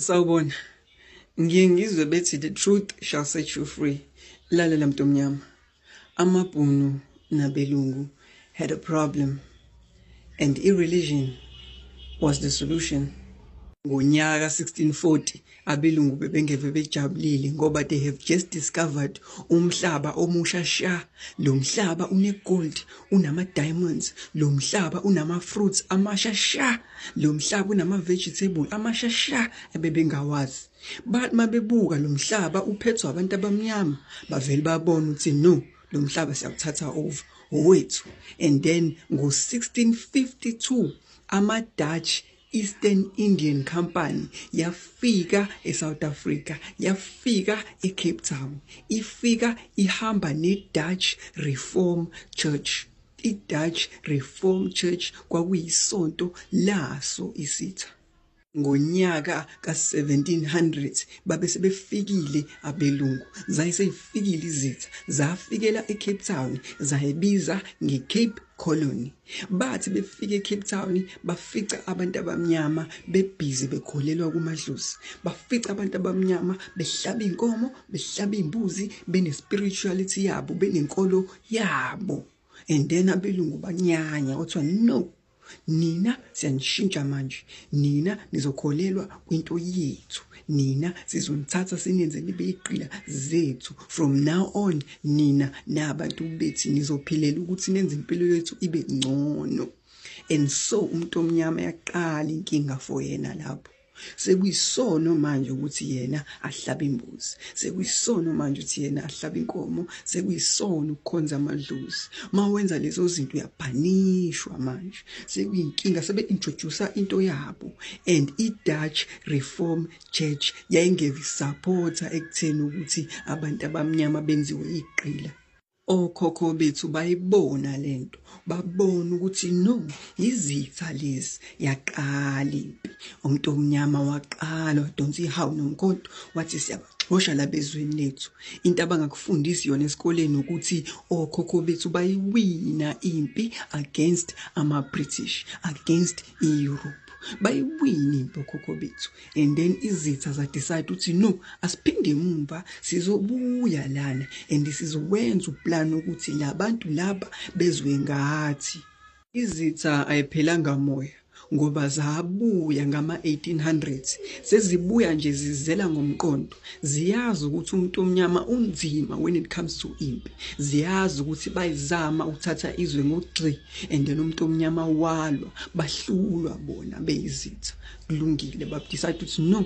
sawubona ngiye ngizwe bethi the truth shall set you free lalela mntu omnyama amabhunu nabelungu had a problem and i-religion was the solution ngonyaka 1640 abelungu bebengeve bejabulile ngoba they have just discovered umhlaba omusha sha lo mhlaba unegold unama-diamonds lo mhlaba unama-fruits amasha sha Lo mhlaba unama-vegetable amasha sha ebebengawazi. Bathi uma bebuka lo mhlaba uphethwe abantu abamnyama bavele babone ukuthi no lo mhlaba siyawuthatha over owethu. And then ngo-1652 ama-Dutch Eastern Indian Company yafika eSouth Africa yafika eCape Town ifika ihamba neDutch Reform Church I-Dutch Reformed Church kwakuyisonto laso isitha. Ngonyaka ka-1700 babe sebefikile abelungu, zaye seyifikile izitha, zafikela eCape Town, zayibiza ngeCape Colony. Bathi befika eCape Town bafica abantu abamnyama bebhizi bekholelwa kumadlozi. Bafica abantu abamnyama behlaba inkomo, behlaba imbuzi, benespirituality yabo, benenkolo yabo and then abelungu banyanya kuthiwa no nina siyanishintsha manje nina nizokholelwa kwinto yethu nina sizonithatha sinenze nibe iqila zethu from now on nina nabantu bethi nizophilela ukuthi nenze impilo yethu ibe ngcono and so umuntu omnyama yaqala inkinga for yena lapho sekuyisono manje ukuthi yena ahlabe imbuzi sekuyisono manje ukuthi yena ahlabe inkomo sekuyisono ukukhonza amadlozi mawenza lezo zinto uyabhanishwa manje sekuyinkinga sebe introduce into yabo and i Dutch Reform Church yayingevi supporter ekutheni ukuthi abantu abamnyama benziwe iqila Okhokho bethu bayibona lento, babona ukuthi no yizitha lezi yaqala impi. Umuntu omnyama waqala wadonsa ihawu nomkhonto wathi siyabaxosha labezweni lethu. Into abangakufundisi yona esikoleni ukuthi okhokho bethu bayiwina impi against ama British, against i Europe. Bayiwina impi okhokho bethu. and then izitha za decide ukuthi no asiphinde emumva sizobuya lana and sizowenza uplan ukuthi labantu laba bezwe ngathi izitha ayiphelanga moya ngoba zabuya ngama 1800s sezibuya nje zizela ngomqondo ziyazi ukuthi umuntu omnyama unzima when it comes to impi ziyazi ukuthi bayizama ukuthatha izwe ngogxi and then umuntu omnyama walwa bahlulwa bona beyizitha kulungile babdecide ukuthi no